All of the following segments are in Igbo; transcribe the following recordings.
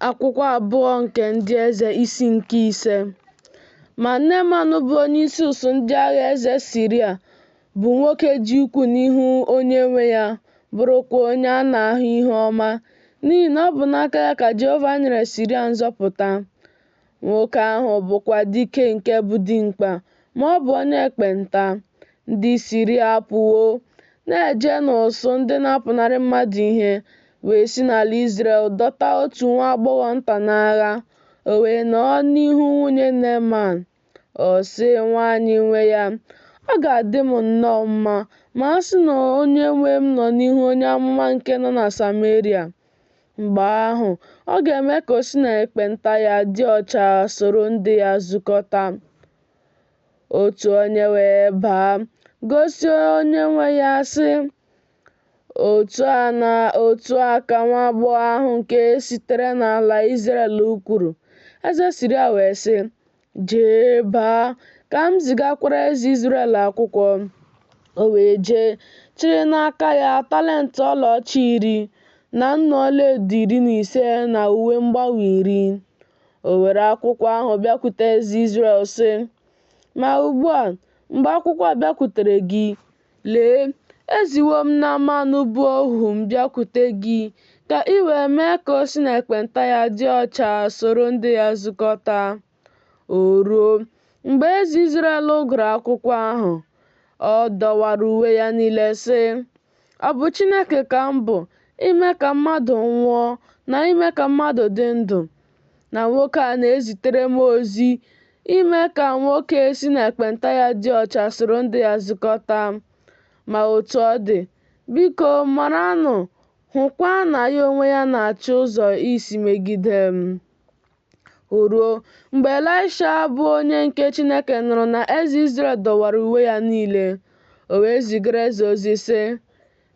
akwụkwọ abụọ nke ndị eze isi nke ise ma neeman bụ onye isi usuu ndị agha eze siria bụ nwoke dị ukwuu n'ihu onye nwe ya bụrụkwa onye a na-ahụ ihe ọma n'ihi na ọ bụ n'aka ya ka jehova nyere siria nzọpụta Nwoke ahụ bụkwa dike nke bụ dimkpa, ma ọ bụ onye ekpenta. Ndị Siria apụwo, na-eje n'usuu ndị na-apụnarị mmadụ ihe, wee si n'ala Izrel dọta otu nwa agbọghọ nta n'agha, o wee nọọ n'ihu nwunye Neeman. Ọ sị nwanyị nwe ya, Ọ ga-adị m nnọọ mma ma a sị na onye nwe m nọ n'ihu onye amụma nke nọ na Sameria. Mgbe ahụ, ọ ga-eme ka o si na ekpenta ya dị ọcha soro ndị ya zukọta. Otu onye wee baa, gosi onye nwe ya sị, Otu a ka nwa agbọghọ ahụ nke sitere n'ala Izrel kwuru. Eze Siria wee sị, Jee baa, ka m zigakwara eze Izrel akwụkwọ. O wee jee, chịrị n'aka ya talent ọlaọcha iri, na nnu ọlaedo iri na ise na uwe mgbanwe iri. O were akwụkwọ ahụ bịakwute eze Izrel sị, Ma ugbu a, mgbe akwụkwọ a bịakwutere gị, Lee, eziwo m Neaman bụ ohu m bịakwute gị, ka i wee mee ka o si na ekpenta ya dị ọcha soro ndị ya zukọta. O ruo, mgbe eze Izrel gụrụ akwụkwọ ahụ, ọ dọwara uwe ya niile, sị, Ọ bụ Chineke ka m bụ, ime ka mmadụ nwụọ na ime ka mmadụ dị ndụ, na nwoke a na-ezitere m ozi ime ka nwoke si na ekpenta ya dị ọcha soro ndị ya zukọta. Ma otu ọ dị, biko maranụ, hụkwa na ya onwe ya na-achọ ụzọ isi megide m. O ruo, mgbe Elaịsha bụ onye nke Chineke nụrụ na eze Izrel dọwara uwe ya niile, o wee zigara eze ozi sị,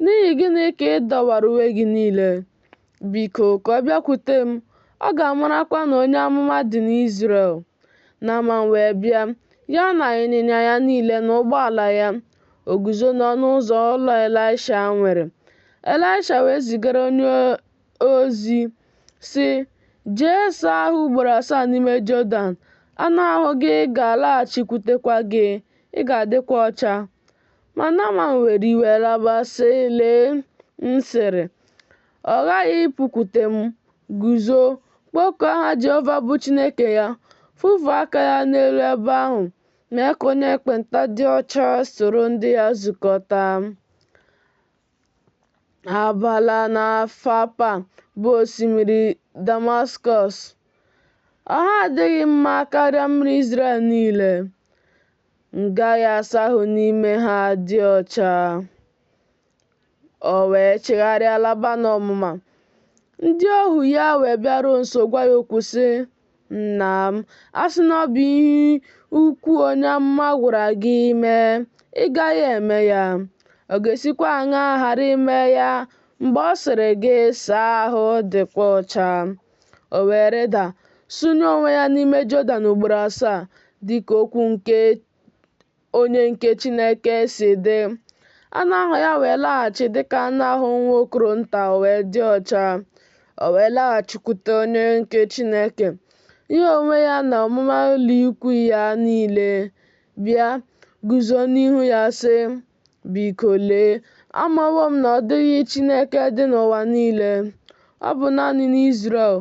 N'ihi gịnị ka ị dọwara uwe gị niile? Biko, ka ọ bịakwute m, ọ ga-amarakwa na onye amụma dị n'Izrel. Naaman wee bịa, ya na ịnyịnya ya niile na ụgbọala ya, o guzo n'ọnụ ụzọ ụlọ Elaịsha nwere. Elaịsha wee zigara onye ozi, sị, Jee saa ahụ ugboro asaa n'ime Jọdan, anụ ahụ gị ga-alaghachikwutekwa gị, ị ga-adịkwa ọcha. Ma Naman were iwe laba sị, Lee, m sịrị, ọ ghaghị ịpụkwute m, guzo, kpọkuo aha Jehova bụ Chineke ya, fufuo aka ya n'elu ebe ahụ, mee ka onye ekpenta dị ọcha soro ndị ya zukọta. Abana na Fapa bụ osimiri Damaskọs, ha adịghị mma karịa mmiri Izrel niile. m gaghị asa ahụ n'ime ha dị ọcha. O wee chigharịa laba n'ọnụma. Ndị ohu ya wee bịaruo nso gwa ya okwu sị, Nna m, a sị na ọ bụ ihe ukwu onye amụma gwara gị mee, ị gaghị eme ya. Ọ ga-esikwa aṅaa ghara ime ya mgbe ọ sịrị gị saa ahụ dịkwa ọcha? O wee rịda, sụnye onwe ya n'ime Jọdan ugboro asaa, dị ka okwu nke onye nke Chineke si dị. Anụ ahụ ya wee laghachi dị ka anụ ahụ nwa okoro nta, o wee dị ọcha. O wee laghachikwute onye nke Chineke, ya onwe ya na ọmụma ụlọikwuu ya niile, bịa, guzo n'ihu ya, sị, Biko lee, amawo m na ọ dịghị Chineke dị n'ụwa niile, ọ bụ naanị n'Izrel.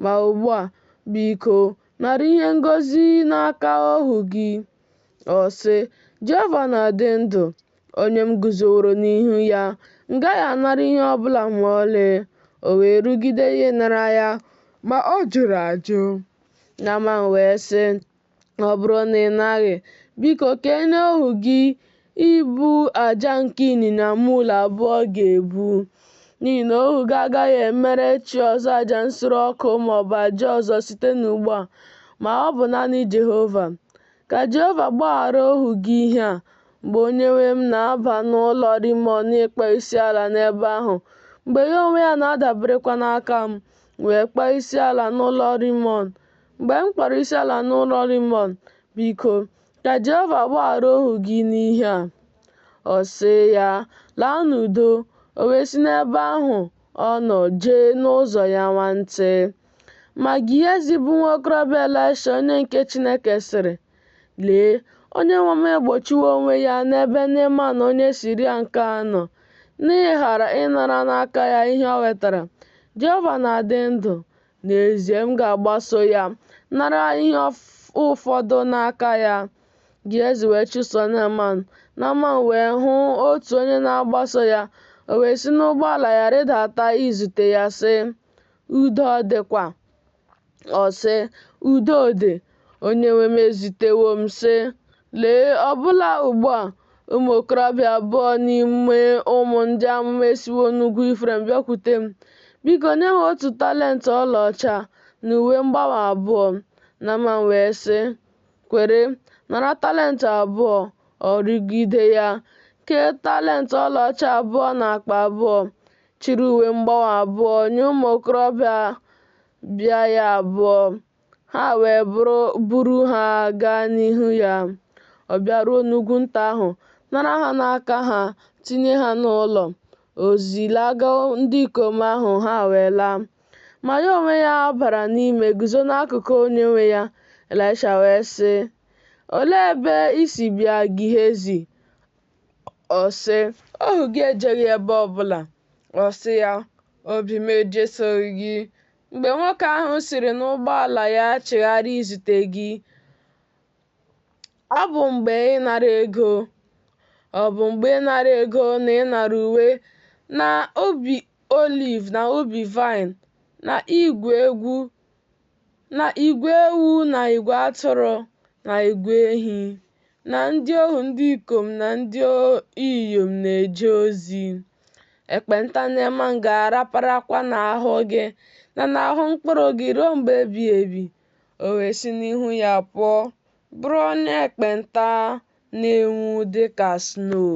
Ma ugbu a, biko, nara ihe ngọzi n'aka ohu gị. Ọ sị, Jehova na-adị ndụ, onye m guzoworo n'ihu ya, m gaghị anara ihe ọ bụla ma ọlị. O wee rụgide ya ịnara ya, ma ọ jụrụ ajụ. Naman wee sị, ọ bụrụ na ị naghị, biko ka e nye ohu gị ibu aja nke ịnyịnya mul abụọ ga-ebu, n'ihi na ohu gị agaghị emere chi ọzọ aja nsure ọkụ ma ọ bụ aja ọzọ site n'ugbu a, ma ọ bụ naanị Jehova. Ka Jehova gbaghara ohu gị ihe a, mgbe onyenwe m na-aba n'ụlọ Rimọn ịkpọ isiala n'ebe ahụ, mgbe ya onwe ya na-adaberekwa n'aka m, wee kpọọ isiala n'ụlọ Rimọn, Mgbe m kpọrọ isiala n'ụlọ Rimọn, biko, ka Jehova gbaghara ohu gị n'ihe a. Ọ sị ya, Laa n'udo. O wee si n'ebe ahụ ọ nọ jee n'ụzọ ya nwantị. Ma Gehazi bụ nwa okorobịa Elaisha onye nke Chineke sịrị, Lee, onyenwe m egbochiwo onwe ya n'ebe Neeman onye Siria nke a nọ, n'ịghara ịnara n'aka ya ihe o wetara. Jehova na-adị ndụ, N'ezie, m ga-agbaso ya, nara ihe ụfọdụ n'aka ya. Gehazi wee chụso Neaman. Neaman wee hụ otu onye na-agbaso ya, o wee si n'ụgbọala ya rịdata izute ya, sị, Udo ọ dịkwa? Ọ sị, Udo dị. Onyenwe m ezitewo m sị, Lee, ọbụla ugbu a, ụmụ okorobịa abụọ n'ime ụmụ ndị amụma esiwo n'ugwu Ifrem bịakwute m. Biko nye ha otu talent ọlaọcha na uwe mgbanwe abụọ. Naman wee sị, Kwere, nara talent abụọ. Ọ rịgide ya, kee talent ọlaọcha abụọ n'akpa abụọ, chịrị uwe mgbanwe abụọ nye ụmụ okorobịa bịa ya abụọ. Ha wee buru ha gaa n'ihu ya. Ọ bịaruo n'ugwu nta ahụ, nara ha n'aka ha, tinye ha n'ụlọ. O zilaga ndị ikom ahụ, ha wee laa. Ma ya onwe ya bara n'ime guzo n'akụkụ onyenwe ya. Ịlaịsha wee sị, Olee ebe i si bịa Gihezi? Ọ sị, Ohu gị ejeghị ebe ọbụla. Ọ sị ya, Obi m ejesoghị gị, Mgbe nwoke ahụ siri n'ụgbọala ya chigharịa izute gị, ọ bụ mgbe ịnara ego, ọ bụ mgbe ịnara ego na ịnara uwe na ubi oliv na ubi vaịn na igwe egwu na igwe ewu na igwe atụrụ na igwe ehi na ndị ohu ndị ikom na ndị inyom na-eje ozi. ekpenta Naman ga-araparakwa n'ahụ gị na n'ahụ mkpụrụ gị ruo mgbe ebighị ebi o wee si n'ihu ya pụọ bụrụ onye ekpenta na-enwu dị ka snow